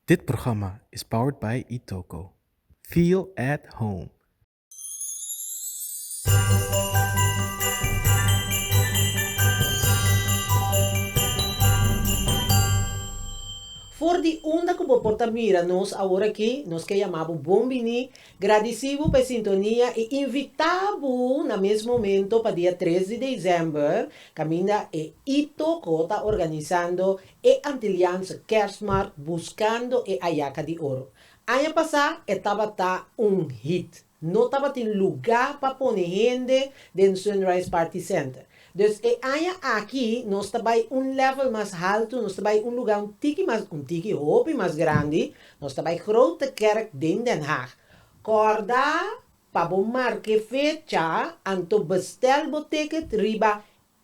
Dit programma is powered by Itoco. Feel at home! For di unda ku bo por ta mira nos aworakí, nos ke yamá bo bon biní, gradisí bo pa e sintonia i invitá bo na mes momento pa dia tres di desèmber kaminda e Itoco ta organisando E Antilianse Kerstmarkt Buscando e Ayaca di Oro. Aña pasá e tabata un hit. No tabatin lugá pa pone hende den Sunrise Party Center. Dus e aña aki nos ta bai un lèvel mas haltu, nos ta bai un lugá un tiki mas, un tiki, hopi mas grandi, nos ta bai Grote Kerk den Den Haag. Kòrda pa bo mark'e fecha anto bèstèl bo ticket riba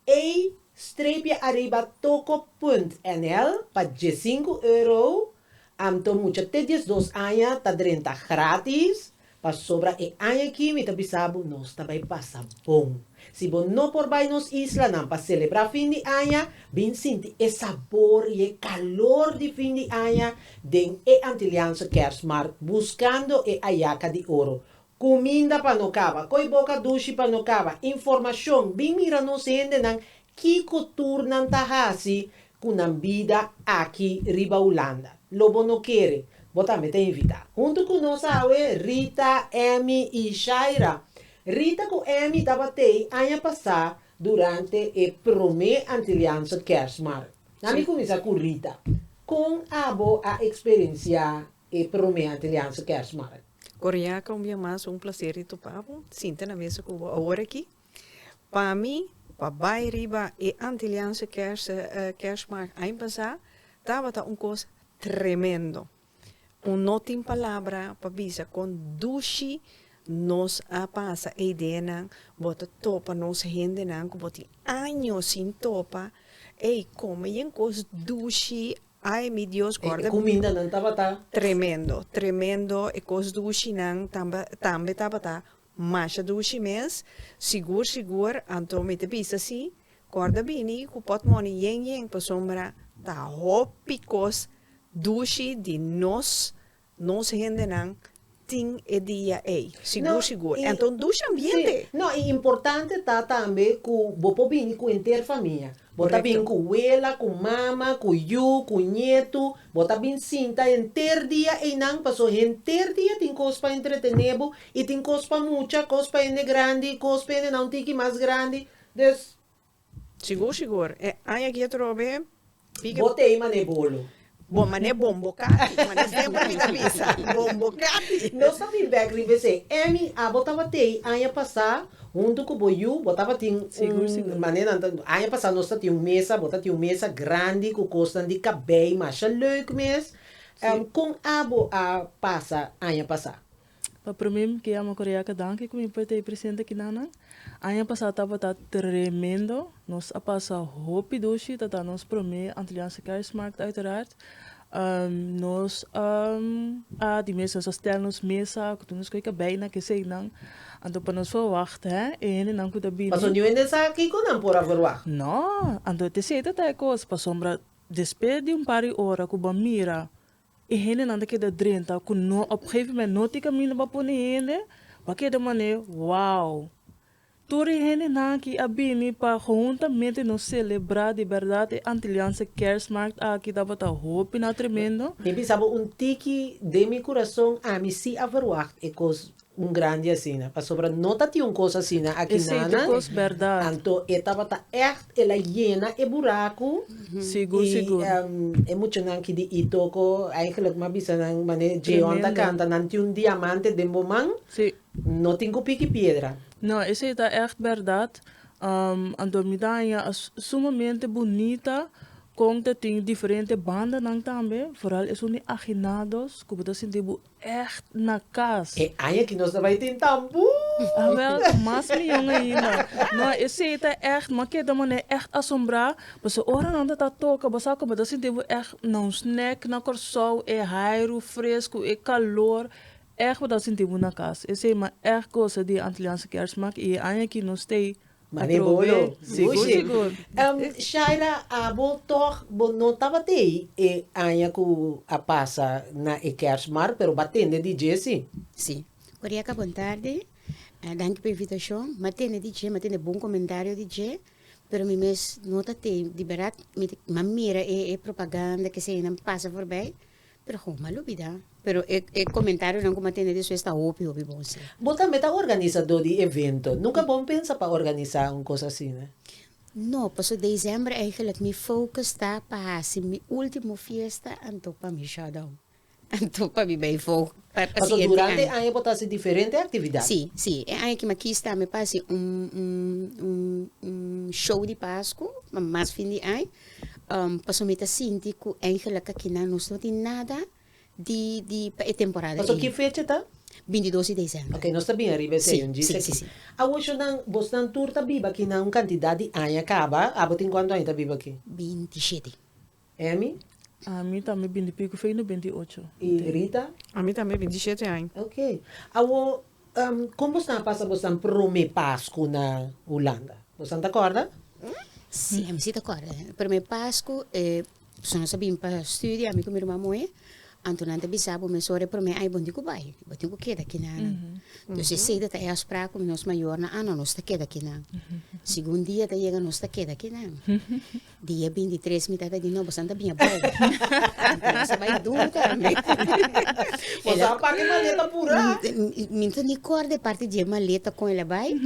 Ey strepia ariba toko punt nl pa diesinku euro, anto mucha te diesdos aña ta drenta gratis, pasobra e aña aki mi ta bisa bo nos ta bay pasa bon. Si bo no por bay nos islanan pa celebra fin di aña, bin sinti e sabor y e calor di fin di aña den e Antilliaanse Kerstmarkt buscando e ayaca di oro, Cuminda pa no caba. Coy boca dushi pa no caba. Informacion, bin mira nos hendenan kico tur nan ta haci cu nan bida aki riba Hulanda. Lo bo no kere, bo tambe ta invita. Hunto cu nos awe Rita, Emmy y Shaira. Rita cu Emmy ta batey aña pasa durante e prome Antilianse Kerstmarkt. Ami cuminsa cu Rita. Con abo a experencia e prome Antiliaanse Kerstmarkt. Oriaka un bia mas un placer di topa bo, sinta na mesa cu bo awor aki. Pa mi, pa bay riba e Antiliaanse Kerst Kerstmarkt aña pasa tabata un cos tremendo. Un no tin palabra pa bisa con dushi nos a pasa e ideanan, bo ta topa nos hendenan cu bo tin años sin topa, ey, coma y e cos dushi Ai mi Dios guarda mi. E kumindanan tabata. Tremendo, tremendo, e kos dushi nan tamba tambe tabata masha dushi mes, sigur sigur, anto mi ta bisa si guarda bini ku potmoni yen yen pasobra ta hopi kos dushi di nos Nos hendenan tin e dia ei, sigur sigur. Enton dushi ambiente. Sí, no i importante ta tambe ku bo por bini ku henter famia. Bo ta bin ku wela, ku mama, ku yu, ku ñetu, bo ta bin sinta henter dia einan paso henter dia tin kos pa entretené bo i tin kos pa mucha, kos pa hende grandi, kos pa hende na un tiki mas grandi. Dus. Sigur sigur e aña aki atrobe piggy. Bo tey mané bolo. Bo mané bombo cati. Mané siempre mi ta bisa bombo cati. Nos ta bin bek riba esey. Emmy abo taba tey aña pasa hunto cu bo yu bo tabatin un mané nan ta aña pasa nos ta tin un mesa bo ta tin un mesa grandi cu cosnan di cabey masha leuk mes con abo a pasa aña pasa. Pa promé mi ke ama Koreaka danki ku mi pudi ta e presidente kinanan. Aña pasá tabata tremendo. Nos a pasa hopi dushi. Tata nos promé Antilliaanse Kerstmarkt uiteraard. Nos a a di mes nos a stèl nos mesa ku tur nos koe kabei na kesenan. Anto pa nos por wahta e hendenan ku ta bini. Pasobra niun hende sa kiko nan por averwá. Nò. Anto e tcc ta ta e kos. Pasobra despues di un par di ora ku bo a mira. E hendenan ta keda drenta ku no op gegeven moment no tin kaminda pa pone hende pa keda mané wow tur e hendenan aki a bini pa hohuntamente nos selebrá di bèrdat e Antiliaanse Kèrsmaart aki tabata hopi na tremendo. Mi bisa bo un tiki den mi kurason ami si a verwagt e kos Un grandi asina, pasobra no ta tin un kos asina aki nana, anto e tabata ègt el a yena e buraku, i e muchanan aki di Itoko, eigenlijk m'a bisa nan manera Djeon ta kanta, nan tin un diamante den bo man, no tin ku piki piedra. No, esei ta ègt bèrdat, anto mi ta haña a sumamente bunita kon ta tin diferente bandanan tambe, foral esun di aginados ku bo ta sinti bo Echt na cas. E aña ki nos ta bai tin ta bou! Awel ta mas mion ainda. No, esey ta echt, no keda manera echt asombrá, pasobra ora nan ta ta toka bo sa como bo ta sinti bo echt na un snack na Kòrsou, e hairu fresku, e kalor, echt bo ta sinti bo na cas. Esey, ma echt gosa di e Antiliaanse Kèrsmaak i e aña aki nos t'ei Mane bo lo, sigur. Shaira abo tog bo no tabatei e aña ku a pasa na e kers mar pero bo a tende di dje si? Si. Ora i a kaba un tarde, danki pa e invitashon, mi a tende di dje, mi a tende bon komentario di dje, pero mi mes no ta tei di beraat mi a mira e propaganda keseyanan pasa forbei. Pero ho mal lubida. Pero e e comentarionan ku bo a tende despues ta hopi hopi bon si. Bo tambe ta organisadó di evento. Nunka bon pensa pa organisá un kos asina? No, paso December eigenlijk mi focus ta pa hasi mi ultimo fiesta anto pa mi shutdown. Anto pa mi bai fo pa pa siguiente aña. Paso durante e aña bo ta hasi diferente aktividat. Si, si. E aña aki mi a kis tambe pa hasi un un un un show di Pasku, pa mas fin di aña. Paso mi ta sinti cu angel a kakina nos no tin nada di di pa e temporada Paso ki fecha ta? Bintidos di december. Ok, nos ta bin ariba e seño, djis aki. Awoshonan, bosnan tur ta biba aki na un cantidad di aña caba. Abo tin cuantu aña ta biba aki? Bintishete. Emmy? Ami tambe bintipico, fey no bintiocho. Y Rita? Ami tambe bintishete aña. Ok. Awo. Kon bo staan pasa bo staan prome pasku na Hulanda? Bo staan ta kòrda? Sí, ami sí ta kòrda. E prome pasku e personanan sa bin pa studio, ami ku mi ruman Moe, anto nan ta bisa bo mes ora e prome ai bon tin ku bai, bo tin ku keda aki nan. Entonces esei ta e afsprak ku nos mayornan, ah no, nos ta keda aki nan. Segun dia ta yega nos ta keda aki nan. Dia bintitres mi tabata di no boso a ta biña bou anto boso a bai duru tambe. Boso a paka e maleta apura. Mi no ta ni kor di e parti di e maleta kon el a bai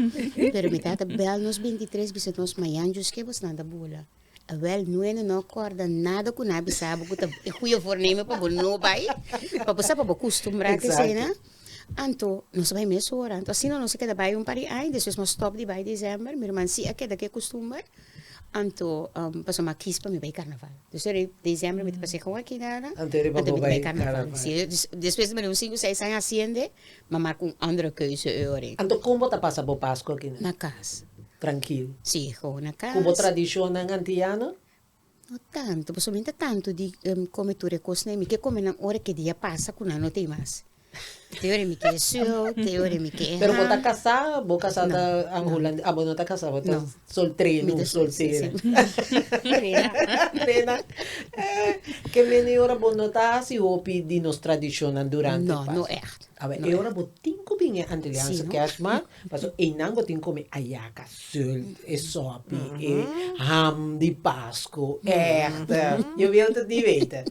pero mi tata bel nos bintitres bisa nos mañan djus ke boso nan ta bula. Awel nuene no a korda nada ku nan a bisa bo ku ta e goeie voorneme pa bo no bai pa bo sa pa bo kustumbra te esena anto nos a bai mes ora anto asina nos a keda bai un par di aña despues nos stop di bai december mi hermansi a keda ku e kustumber. Anto paso mi a kies pa mi bay carnaval. Pues ora e diciembre mi ta pasa e con aki na na anto mi ta bay carnaval. Despues di mi un cinco seis aña haciende mi a marca un andere keuze ora. Anto con bo ta pasa bo pascu aki na? Na cas. Trankil? Si gewoon na cas. Cu bo tradicionnan antillano? No tanto, pasobra mi no ta tanto di come tur e cosnan, mi ke comenan ora ke dia pasa cu nan no ta mas. Te ora mi ke sio, te ora mi ke Pero bo ta ha. kasá, bo kasá ta ang hulandes, a bo no ta kasá, bo ta No. soltré, Mi nu, ta sol- soltera. Trena. Ke mene ora bo no ta hasi hopi di nos tradishonnan durante No, Paskua? no ègt. Awe, No e ora ègt. bo tin ku bin e Antilliaanse Si, no. Kersmaak, Paso einan bo tin come ayaca, zult, e sopi, e ham di Pasco, echt. Yo wil het niet weten.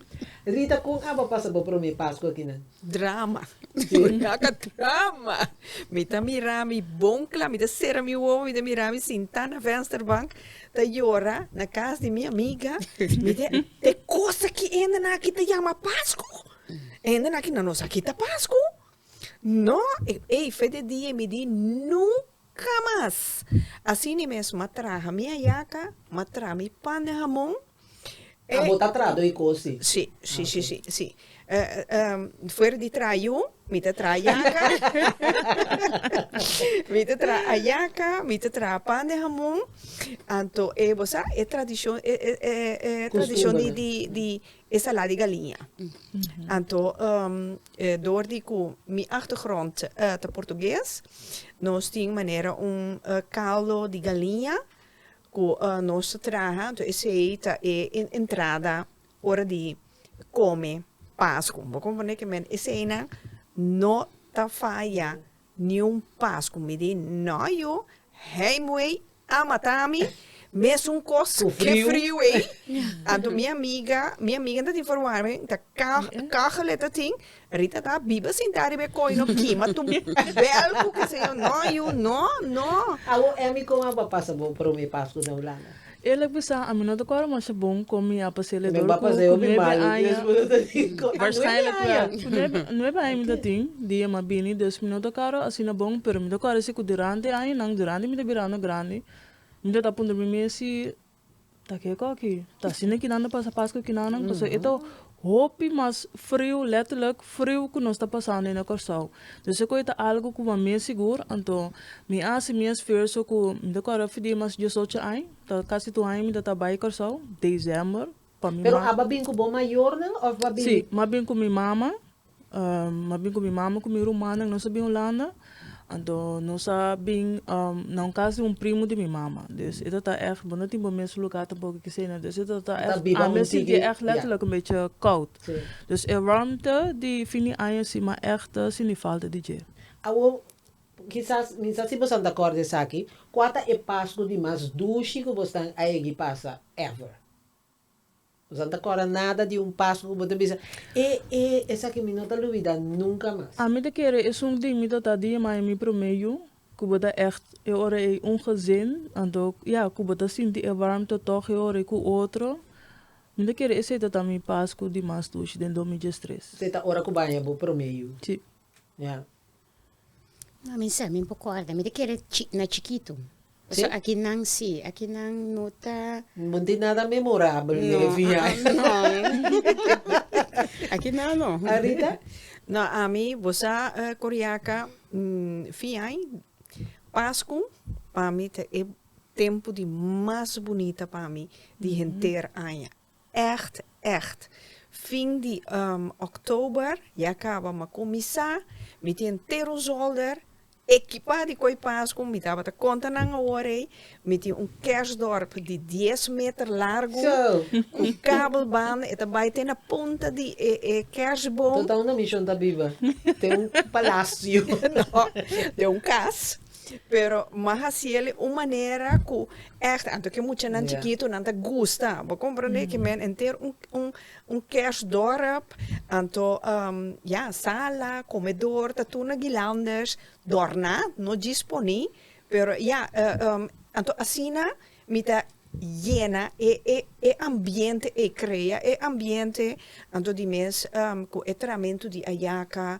Rita, con a bo pasa bo prome Pasco akinan? Drama. Ayaca drama. Mi ta mira mi bon cla, mi ta cera mi wowo, mi ta mira mi sinta na vensterbank ta yora na cas di mi amiga. Mi di, e cos aki ende naki ta yama Pasco. Ende naki nan nos aki ta Pasco. No, ey fe de dia y midí nunca mas! Así ni mes m'a traha mi hayaca, m'a traha mi pan den hamon. A botá traha doi cosi? Sí, sí, sí, sí, sí. Fuera di traha yu, mi ta traha hayaca, mi ta traha hayaca, mi ta traha pan den hamon. Anto e bo sa e tradicion, e tradicion di, di, di, E sala di galiña. Anto e dor di ku mi achtergrond ta portugues, nos tin manera un caldo di galiña ku nos ta traha, anto esei ta e entrada ora di kome pasku. Bo komprende ke men eseinan no ta faya Niun pas ku mi di, No, yu, hey muey a mata mi, mesun kos ke friu ei. Anto mi amiga, mi amiga ta tin for warme, ta kagele ta tin, Rita ta biba sinta riba e koi, no kima tu bèl ku keseyo, no yu, no, no. Awor Emmy kon a pasa bo prome Pasku na Hulanda? El a bisa, Ami no ta kòrda mas ta bon kon mi apa seliador ku nuebe aña. Waarschijnlijk wel. Ku nuebe aña mi ta tin, di e mas bini, dus mi no ta kòrda asina bon, pero mi ta kòrda si ku durante añanan, durante mi ta birando grandi, mi ta ta puntra mi mes si ta ke koki, ta asina kinan ta pasa Paskua kinan nan, pasobra e ta Hopi mas friu, letterlijk friu cu nos ta pasando in e Corsou. Dus e coi ta algo cu bo mes sigur, anto mi a haci mi esfuerso cu mi ta corre fdi mas diesocho aña, ta casi tur aña mi ta ta bay Corsou, december, pa mi. Pero a ba bin cu bo mayornan of ba bin. Si, mi a bin cu mi mama. Mabin ku mi mama ku mi rumannan nos a bin Hulanda. Anto nos a bin na un kas di un primu di mi mama. Dus e tabata èg, bo no tin bo mes lugá tampoco kisaina. Dus e tabata èg, ami a sinti èg letterlijk un beetje koud. Dus e wòrmte di fin di aña si, ma èg ta sinti falta di dje. Awor, kisas, mi sa si boso nan ta kòrda esaki, kua ta e Pasku di mas dushi ku boso nan a hegi pasa ever? Nos a ta kòrda nada di un Paskua ku bo ta bisa, E e esaki mi no ta lubida nunka mas. Ami ta kere esun di mi tata di e mai mi promé yu, ku bo ta ècht e ora ei un gezin, anto ya ku bo ta sinti e warmte tòg e ora ei ku otro. Mi ta kere esei ta ta mi Paskua di mas dushi den dos mil diestres. Esei ta ora ku baña bo promé yu. Sí. Ya. No mi sa, mi por kòrda, mi ta kere chi, na chikitu. Pasobra aki nan si, aki nan no ta. Bo no tin nada memorabel den e viahe. No, aki nan no. Arita? No, ami, bo sa Coriaca, viahe, Pascu, pa mi ta e tempu di mas bunita pa mi di henter aña. Echt echt. Fin di October ya caba ma cuminsa mi tin ter un zolder ekipa di kooi paas ku mi tabata konta nan awor ei mi tin un kerstdorp di dies meter largu ku kabel banda e ta bai te na punta di e kerstboom. Total na mi shon ta biba te un palasio. No te un kas. Pero m'a hasiel un manera cu echt anto ke muchanan chikitonan ta gusta. Bo comprende ke men enter un un un kersdorp anto ya sala, comedor ta tur na guilandes dorná, no djis poní, pero ya anto asina mi ta yena e e e ambiente ei, crea e ambiente anto di mes cu e tramentu di ayaca.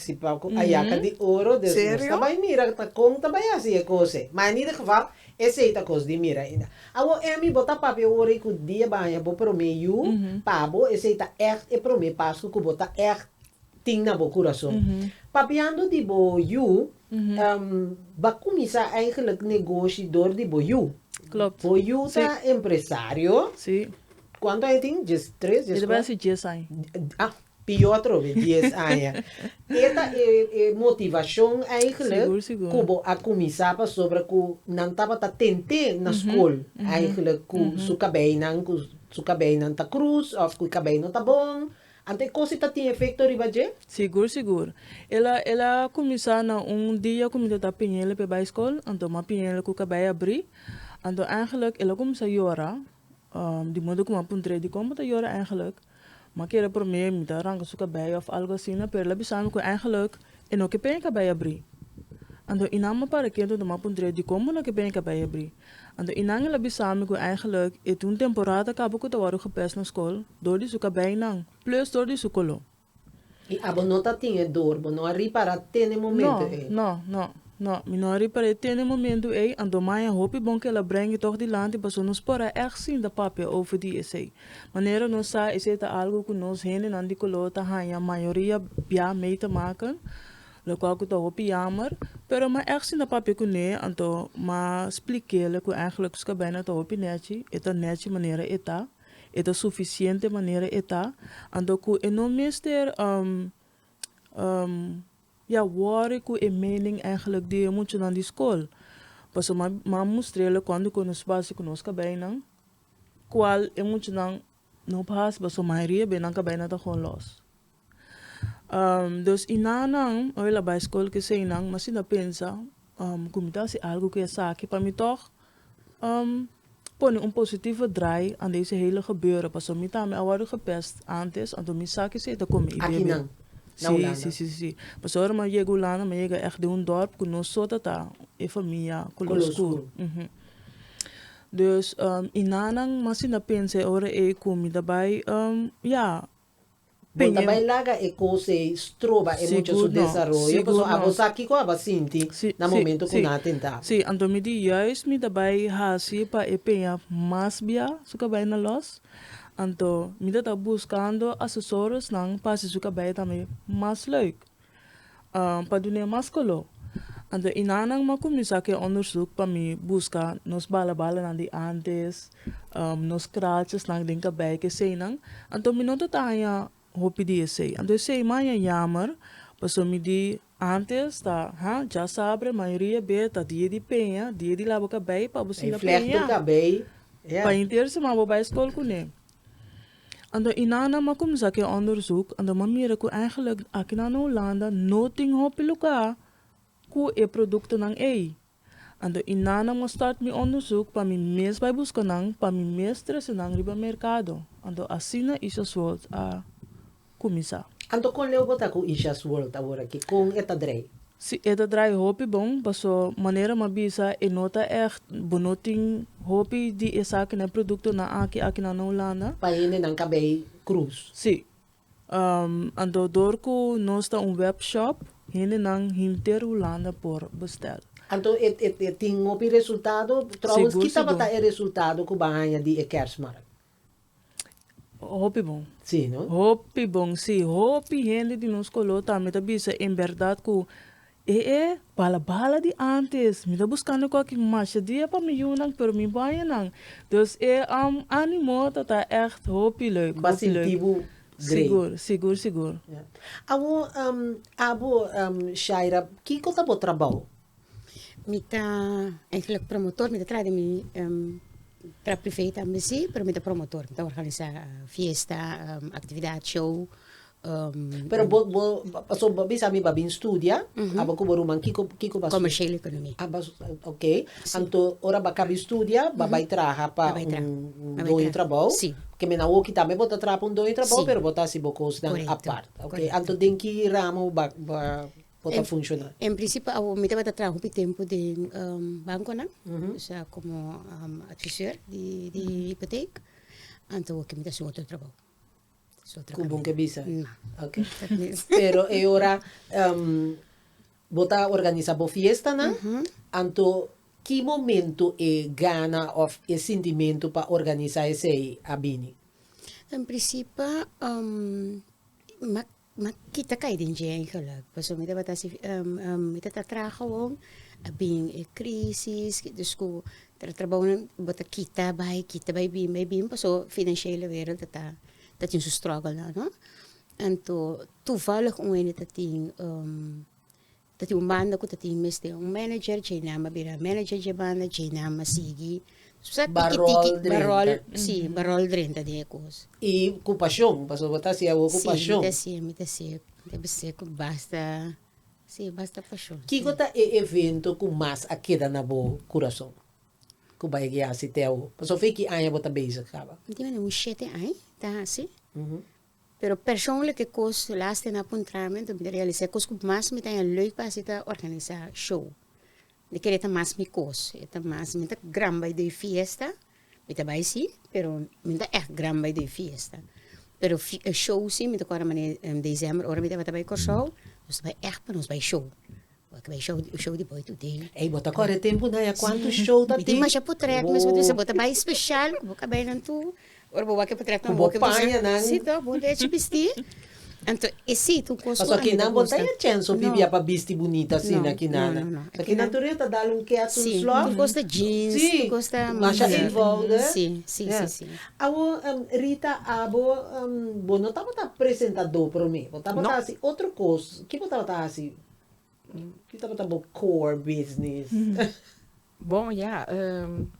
Si pa cu ayaca di oro dus nos ta bay mira ta con ta bay haci e cose. Ma en ieder geval esey ta cos di mira. Awor Emmy bo ta papia ora y cu di e baña bo prome yu, pa bo esey ta echt e prome Pascu cu bo ta echt tin na bo curason. Papiando di bo yu, ba cuminsa eigenlijk negoshi door di bo yu. Bo yu ta empresario, cuanto aña tin? Djes tres, djes cuatro? Ita bay haci djes aña. Pior atrobe dies aña. E ta e motivacion eigenlijk cu bo a cuminsa pasobra cu nan tabata tent'é na scol eigenlijk cu su cabeinan, cu su cabeinan ta cruz of cu e cabei no ta bon. Anto e cos ei ta tin efecto riba dje? Sigur, sigur. El a el a cuminsa na un dia cu mi ta ta piñele pe bai scol, anto m'a piñele cu cabei a bri. Anto eigenlijk el a cuminsa yora. di modo ku m'a puntr'é di kon bo ta yora eingelik, m'a kere promé mi ta ranka su kabei òf algu asina, pero el a bisa mi ku eingelik e no ke peña kabei a bri. Anto i nan m'a para kento anto m'a puntr'é di kon bo no ke peña kabei a bri. Anto i nan el a bisa mi ku eingelik e tin un temporada ta kaba ku ta wòrdu gepès na skol dor di su kabeinan, plus dor di su koló. Y abo no ta tin e door, bo no a ripara te n'e momento ey? No, no, no, mi no a ripar'é te n'e momento ey, anto maña hopi bon kel a brengi tog dilanti paso nos por a èg sinta papia over di esey. Manera nos sa esey ta algo cu nos hendenan di color ta haña mayoria bia mey te maken, locual cu ta hopi jammer, pero m'a èg sinta papia cu n'e, anto m'a splik'éle cu èg'le cu Scabena ta hopi netchi, e ta netchi manera e ta. e ta sufisiente manera e ta, anto ku e no mester ya wòri ku e mening eigenlijk di e muchanan di skol. Pasobra mi a mi a mustr'ela kuantu ku nos basi ku nos kabeinan kual e muchanan no bas, pasobra mayoria beinan kabeinan ta holos. Dos inanan oi la bai skol ku esei nan ma si nan pensa ku mi ta hasi algu ku esaki pa mi tòg pone un positivo drai a dese hele gebeure pasobra mi tambe a wòrdu gepèst antes anto mi sa ke esei ta kon mi idee biain si si si pasobra ora mi a yega hulanda mi a yega ègt den un dòrp ku no so tata e famia kolor skur dus inanan ma si nan pensa e ora ei ku mi ta bai ya Bo ta bai laga e cos ei stroba e mucha su desaroyo, pasobra abo sa kico aba sinti na momento cu nan a tenta abo. Sí, anto mi di juist mi ta bai haci pa e peña mas bia su cabai na los, anto mi ta ta buscando asesoresnan pa haci su cabai tambe mas leuk. Um pa dun'é mas koló. Anto i nannan m'a kuminsá ku e ondersuk pa mi buska nos balabalanan di ántes, um nos krachesnan den kabèj, ke eseinan. Anto mi no ta ta haña hopi di esei. Anto esei maña yammer pasobra mi di ántes ta, ha, dja saber mayoria bes ta dia di peña, dia di laba kabèj pa bo sinda peña. Pa hinter semana bo bai skol kuné. Anto i nan nan ma kumsa ke onderzoek, anto ma mira ku eigenlik akinan na Hulanda no tin hopi lugá ku e produktonan ei. Anto i nan nan ma start mi onderzoek pa mi mes bai buska nan, pa mi mes trese nan riba merkado, anto asina Isha Swartz a. kuminsá. Anto kon Leo bo ta ku Isha's World awor aki? Kon e ta drai? Sí, e ta drai hopi bon, paso manera m'a bisa e no ta ègt bo no tin hopi di esakinan produktonan aki akinan na Hulanda. Pa hendenan ka bei krus. Sí. Anto dor ku nos ta un wèpshòp, hendenan hinter Hulanda por bestèl. Anto e tin hopi resultado? Tròwens ki tabata e resultado ku ban haña di e kèrsmàrk? Hopi bon. Sí, no? Hopi bon, sí. Hopi hende di nos color tambe ta bisa en berdad cu e e bala bala di antes. Mi ta buscando cu aki masha dia pa mi yunan, pero mi banja nan. Dus e um animo ta ta echt hopi leuk, Bo a hopi leuk. sinti bo grei. Sigur, sigur, sigur. Ya. Awor, um, abo, um, Shaira, kico ta bo trabao? Mi ta eigenlijk promotor mi ta traha den mi tra prive tambe si pero mi ta promotor mi ta organisa fiesta actividad show Pero bo bo pasobra bo a bisa mi bo a bin studia aba ku bo ruman kiko kiko bo a studia? Comercial economia Aba ok anto ora bo a kabi studia bo a bai traha pa Bai traha un bai traha doño trabou si kimin awoki tambe bo ta traha pa un doño trabou pero bo ta hasi bo kosnan Correcto apart ok anto den ki ramo bo a bo a por ta funciona. En principio awor mi tabata traha hopi tempo den banconan osea como advisor di hypotheek anto awor ke mi ta haci otro trabao. Cu bon ke bisa? No. Ok. Pero e ora bo ta organisa bo fiestanan anto ki momento e gana of e sintimento pa organisa esey a bini? En principio. Ma kita kai den dje ei gèlèk pasobra mi tabata si mi ta ta traha awor a bin e krisis dus ku trabajonan bo ta kita bai kita bai bin bai bin paso financiela wèra ta ta tin su struggle nan no anto toevallig un wende ta tin. Ta tin un banda ku ta tin mester un manager, dje nan a bira manager dje banda, dje nan a sigui su sa tiki tiki, ba ròl, si, ba ròl drenta den e kos. I ku pashon, pasobra bo ta hasié awo ku pashon. Si, mi ta hasié, mi ta hasié, mi ta hasié ku basta, si, basta pashon. Kiko ta e evento ku mas a keda na bo kurason, ku bai ke hasi te awo? Pasobra fin ki aña bo ta bezig kaba? Mi tin mester un shete aña ta hasi. Pero persoonlijke kos laster na puntrami do mi ta realisá e kos ku mas mi ta haña leuk pa hasi ta organisá show mi kere ta mas mi kos e ta mas mi ta gran bai do e fiesta mi ta bai si pero mi ta èk gran bai do e fiesta pero show si mi ta kòrda manera diciember ora mi tabata bai Kòrsou nos ta bai èk pa nos bai show Ey bo ta corre tempo na ya cuanto show ta tin. Cu bo paña nan. Pasobra aki nan bo ta ya chance o bibia pa bisti bunita asina aki nan. Pasobra aki nan tur e ta dal un ke asun slop. Si masha eenvoudig. Awor Rita abo bo no tabata presentador prome bo tabata haci otro cos ki bo tabata haci Ki tabata bo core business? Bon ya,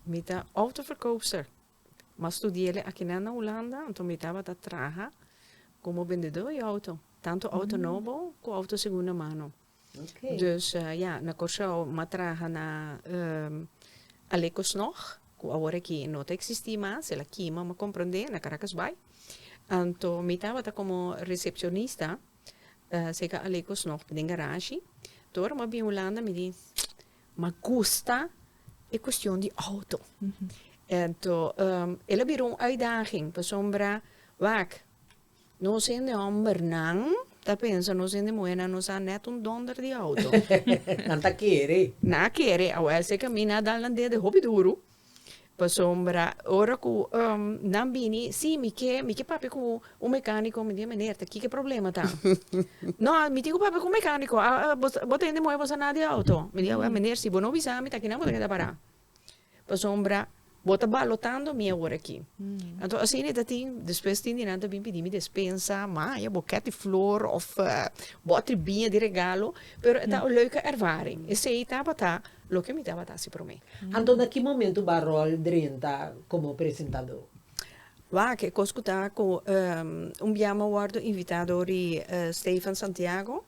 mi ta autoverkoopster. Ma studiele akinan na Hulanda, anto mi tabata traha komo bendedó di outo, tantu outo nobo ku outo segunda mano. Dus ya, na Kòrsou mi a traha na Alekosnòg, ku awor aki no ta eksistí mas, el a kima, mi a komprendé, na Karakasbai. Anto mi tabata komo resepshonista Ta seka alecos nog den garashi. Tur ora m'a bin Hulanda mi di m'a gusta e cuestion di auto. Ento el a bira un uitdaging pasobra wak nos hende hombernan ta pensa nos hende muhernan no sa net un donder di auto. Nan ta kere. Nan a kere. Awor seka mi nan a dal nan dede hopi duru. Pasobra ora ku nan bini, si, mi ke mi ke papia ku un mekaniko, mi di, Meneer, ta ki ku e problema ta? No, mi tin ku papia ku un mekaniko, bo ta hende muhé, bo sa nada di e outo? Mi di, Awèn, meneer, si bo no bisa mi ta kinan bo ta keda pará. Pasobra bo ta balotando mi awor aki. Anto asina e ta tin, despues tin di nan ta bin pidi mi despensa, maya, bokèt di flor òf bòtri biña di regalo, pero e ta un leuke ervaring. Esei tabata Loke mi tabata hasi promé. Anto na ki momentu bo a ròl drenta komo presentadó? Wak, e kos ku ta ku un bia mi a wòrdu invitado di Stefan Santiago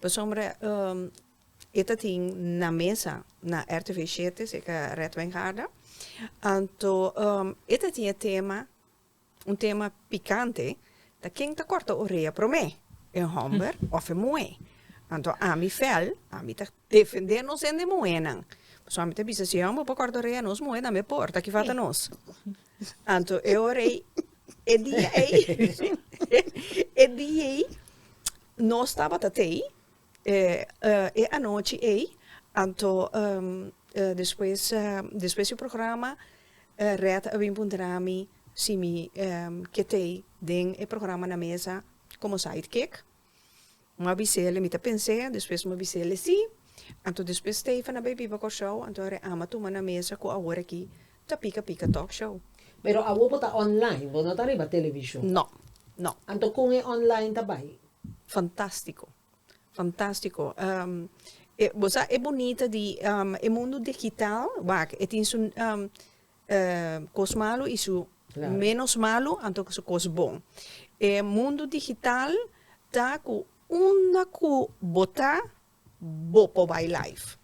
pasobra e ta tin na mesa na rtv shete, seka Red Wijngaarden. Anto e ta tin e tema. Un tema pikante ta ken ta kòrta orea promé, e hòmber òf e muhé. Anto ami fèl, ami ta defendé nos hende muhénan. Pasobra ami ta bisa si e hòmber por kòrta orea nos muhé tambe por, ta ki falta nos. Anto e ora ei, e dia ei, e dia ei nos tabata tei E anochi ei, anto despues despues di programa Red a bin puntra mi si mi ke tei den e programa na mesa komo side kick. Mi a bise'ele mi ta pens'é despues mi a bise'ele si. Anto despues Stefan a bai biba Kòrsou anto a reama tuma na mesa ku awor aki ta pika pika talk show. Pero awor bo ta online, bo no ta riba televishon. No, no. Anto kon e online ta bai? Fantastico fantastico bo sa e bonita di e mundo digital wak e tin su cos malo y su menos malo anto su cos bon e mundo digital ta cu unda cu bo ta Bo por bai life.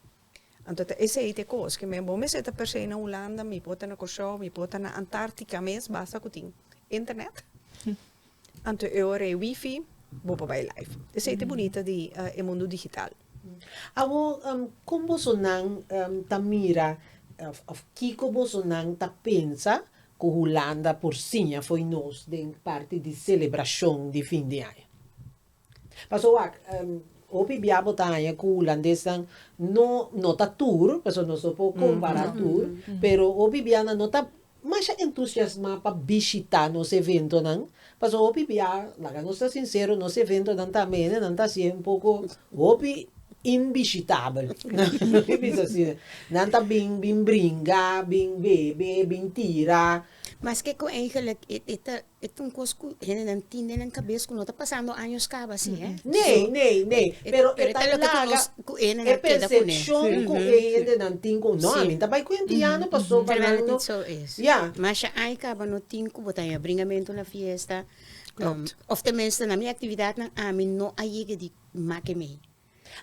Anto ta esei t'e kos ke men bo mester ta persei na Hulanda, mi por ta na Kòrsou, mi por ta na Antartika mes, basta ku tin internet. Anto e ora e wifi, bo por bai life. Esei t'e bunita di e mundu digital. Awor, kon bosonan ta mira òf kiko bosonan ta pensa ku Hulanda por siña fo'i nos den parti di selebrashon di fin di aña? Paso wak, hopi bia bo ta haña cu hulandesnan no, no ta tur, paso nos no por compara tur, pero hopi bianan no ta masha entusiasma pa bishita nos eventonan, paso hopi bia, laga nos ta sincero, nos eventonan ta mene, nan ta siye un poco, hopi inbishitabel, mi bisa asi, nan ta bin, bin bringa, bin bebe, bin tira. Maske cu eigenlijk e ta E ta un kos ku hendenan tin den nan kabes ku no ta pasando años kaba asi, he. Nee, nee, nee, pero e ta laga e persepshon ku e hendenan tin ku no, a mi ta bai ku Indiano paso pa nan no, ya. Masha ai kaba no tin ku bo ta haña bringamentu na fiesta, of ten minste na mi aktividatnan a mi no a yega di make mei.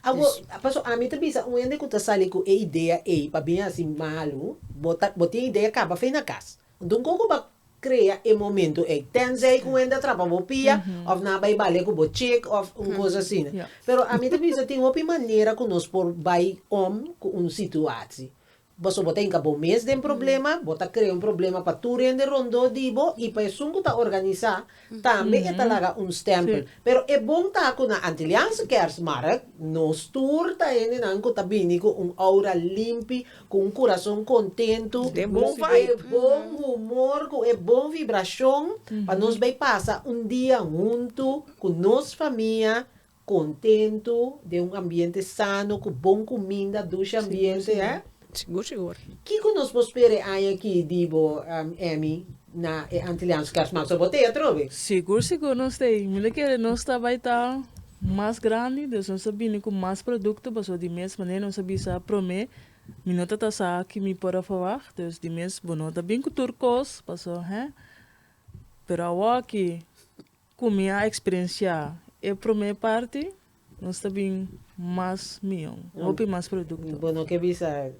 Awor, paso ami ta bisa un hende ku ta sali ku e idea ei pa bin hasi malu, bo ta, bo tin idea kaba fe na kas. Enton kon ku bo a krea e momentu ei? Tensei ku un hende a trapa bo pia òf nan a bai bale ku bo chik òf un kos asina. Pero ami ta bisa tin hopi manera ku nos por bai om ku un situasi. Paso bo ta hinca bo mes den problema, bo ta crea un problema pa tur hende rondó di bo y pa esun cu ta organiza tambe e ta laga un stempel. Pero e bon ta cu na Antilliaanse Kerstmarkt nos tur ta hendenan cu ta bini cu un aura limpi, cu un curazon contentu, cu e bon humor, cu e bon vibracion pa nos bay pasa un dia huntu cu nos famia Kontentu, den un ambiente sano ku bon kuminda, dushi ambiente, he? Sigur, sigur. Kiko nos por spera e aña aki di bo, Emmy, na e Antiliaans Kersmarkt? So bo ta ei atrobe? Sigur, sigur nos ta ei. Mi ta kere nos ta bai ta mas grandi, dus nos ta bini ku mas produkto, pasobra di mes manera nos a bisa promé, mi no ta ta sa ki mi por a verwacht, dus di mes bo no ta bin ku tur kos, paso, he? Pero awoki. Cu mi a experiencia e prome parti nos ta bin mas mion, hopi mas producto. Bo no ke bisa.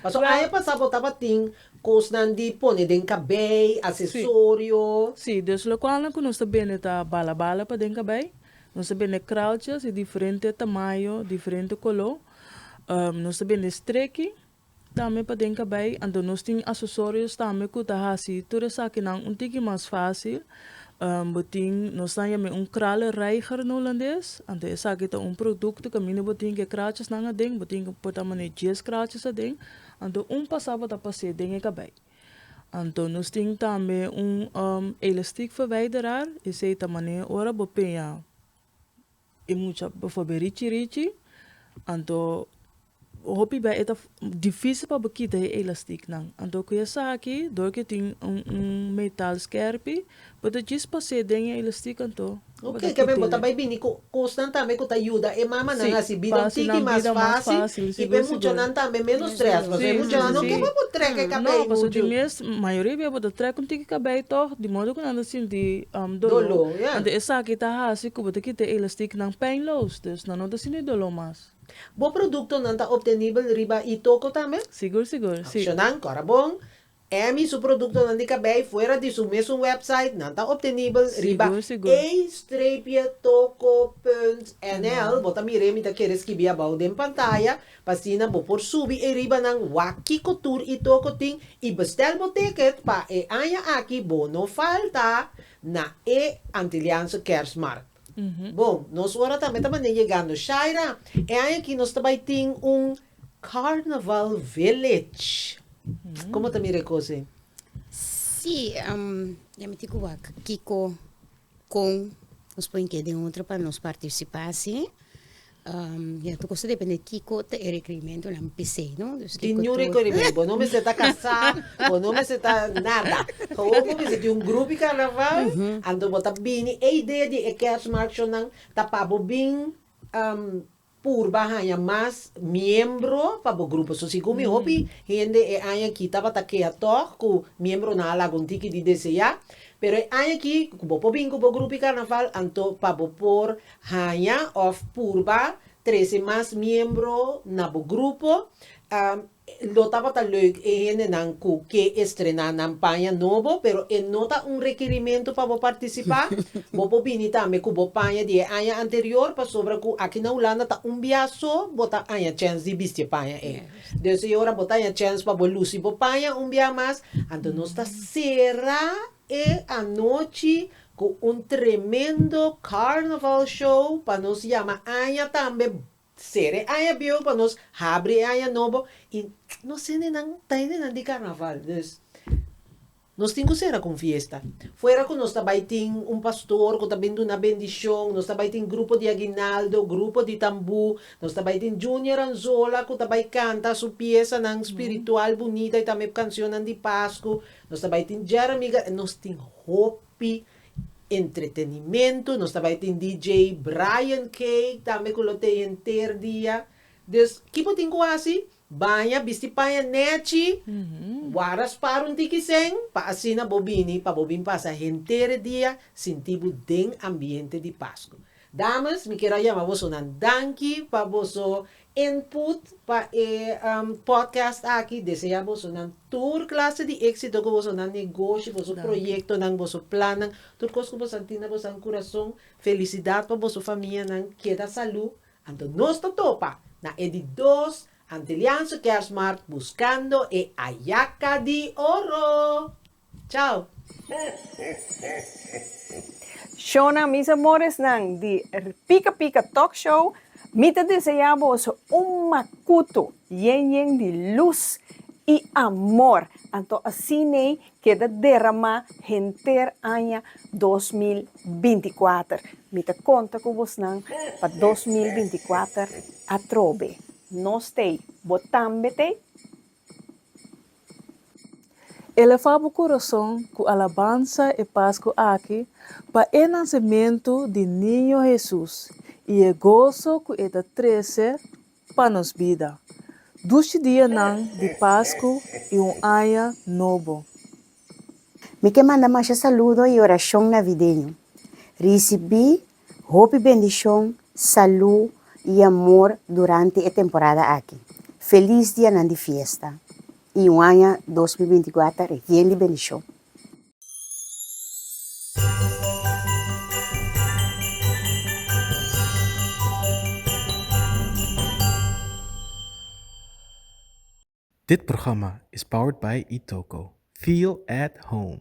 Paso aña pasa bo tabatin cosnan di pone den cabey, accesorio. Si, dus locualnan cu nos ta bende ta bala bala pa den cabey, nos ta bende kraaltjes di diferente tamayo, diferente color, nos ta bende streki, Tambe paden kabei anto nos tin asesorios tambe ku ta hasi tur esakinan un tiki mas fásil. Bo tin nos nan yam'e un kralenreiger na hulandes. Anto esaki ta un produkto kaminda bo tin ke krachesnan aden bo tin ke por ta man'e dies kraches aden anto un pasá bo ta pas'e den e kabei. Anto nos tin tambe un elastiekverwijderar esei ta manera ora bo peña. E mucha bo for be richi richi, anto hopi bey eta dificil pa bo kita e elastic nan. Anto cu esaki door cu e tin un un metal skerpi bo ta djis pase den e elastic anto bo ta kit'e ley. Ok, bo ta bay bini cu cosnan tambe cu ta yuda e mamanan asi bida un tiki mas facil y p'e muchanan tambe menos stress, pasobra e muchanan no ke pa bo trek e cabey muchu. Mayoria di beboe ta trek un tiki kabei tog di modo ku nan ta sinti dolo anto esaki ta hasi ku bo ta kita e elastiknan peinloos dus nan no ta sinti dolo mas. Bo produktonan ta optenibel riba Itoco tambe? Sigur sigur, si. Opshonnan, Kòrda Bon, Em i su produktonan di kabei fuera di su mesun wèpsait nan ta optenibel riba Sigur sigur. ei streepje toco punt nl. Bo ta mira e mi ta kere skibi abou den pantaya. Pa asina bo por subi ei ribanan wak kiko tur i toko tin i bestel bo ticket pa e aña aki bo no falta na e Antilliaanse Kerstmarkt. Bon, nos ora tambe ta manera yegando. Shaira, e aña aki nos ta bai tin un Carnaval Village. Komo ta mira e kos ei? Sí, ya mi tin ku wak kiko Kon nos por hinke den otro pa nos partisipá si? ya tur kos ta dependé kiko ta e rekerimentunan pesei no. Tin niun rekerimento, bo no mester ta kasá, bo no mester ta nada, awo bo mester tin un grupi karnaval, anto bo ta bini, e idea di e kèrsmarchenan ta pa bo bin Purba haña mas miembro pa bo grupo. So si gumi hopi hende e aña aki tabata kea tòg ku miembronan a laga un tiki di deseá, pero e aña aki ku bo por bin ku bo grupi karnaval, anto pa bo por haña òf purba trese mas miembro na bo grupo. Lo tabata leuk e hendenan ku ke estrená nan paña nobo, pero e no ta un rekirimentu pa bo partisipá. Bo por bini tambe ku bo paña di e aña anterior, pasobra ku aki na Hulanda ta un bia so bo ta haña chèns di bisti e paña ei. Dùs e ora bo ta haña chèns pa bo lusi bo paña un bia mas, anto nos ta sera e anochi ku un tremendo carnaval show pa nos yama aña tambe T sera e aña biehu pa nos habri e aña nobo y nos hendenan ta hendenan di carnaval dus nos tin cu sera cu un fiesta fuera cu nos ta bay tin un pastor cu ta bin duna bendicion nos ta bay tin grupo di aguinaldo grupo di tambu nos ta bay tin Junior Anzola cu ta bay canta su piesanan spiritual bunita y tambe cancionnan di pascu nos ta bay tin Jeremy Ga nos tin hopi Entretenimentu, nos ta bai tin DJ Brian Cake tambe ku lo tei henter dia. Dus ki bo tin ku hasi? Baña, bisti paña nèchi, wara spar un tiki sèn pa asina bo bini pa bo bin pasa henter e dia sinti bo den ambiente di Pasku. Dames, mi kier a yama bosonan danki pa boso input pa e podcast aki desea bosonan tur clase di exito cu bosonan negoshi boso proyectonan boso plannan tur cos cu boso a tin na bosonan curason felicidad pa boso famianan keda salu anto nos ta topa na e di dos antelianso kerstmarkt buscando e ayaca di oro. Chao! Shona, mis amoresnan di Pika Pika Talk Show, mi ta desea boso un makutu yen yen di lus i amor, anto asin'ei keda deramá henter aña dos mil binti kuater. Mi ta konta ku bosnan pa dos mil binti kuater atrobe. Nos t'ei, bo tambe t'ei? Elevá bo kurason ku alabansa e Pasku aki pa e nasementu di Niño Hesus i e goso ku e ta trese pa nos bida, dushi dianan di Pasku i un aña nobo. Mi ke manda masha saludo i orashon navideño. Risibí Hopi bendishon, salú i amor durante e temporada aki. Felis dianan di fiesta i un aña dos mil binti kuater yen di bendishon! Dit programma is powered by Itoco, feel at home.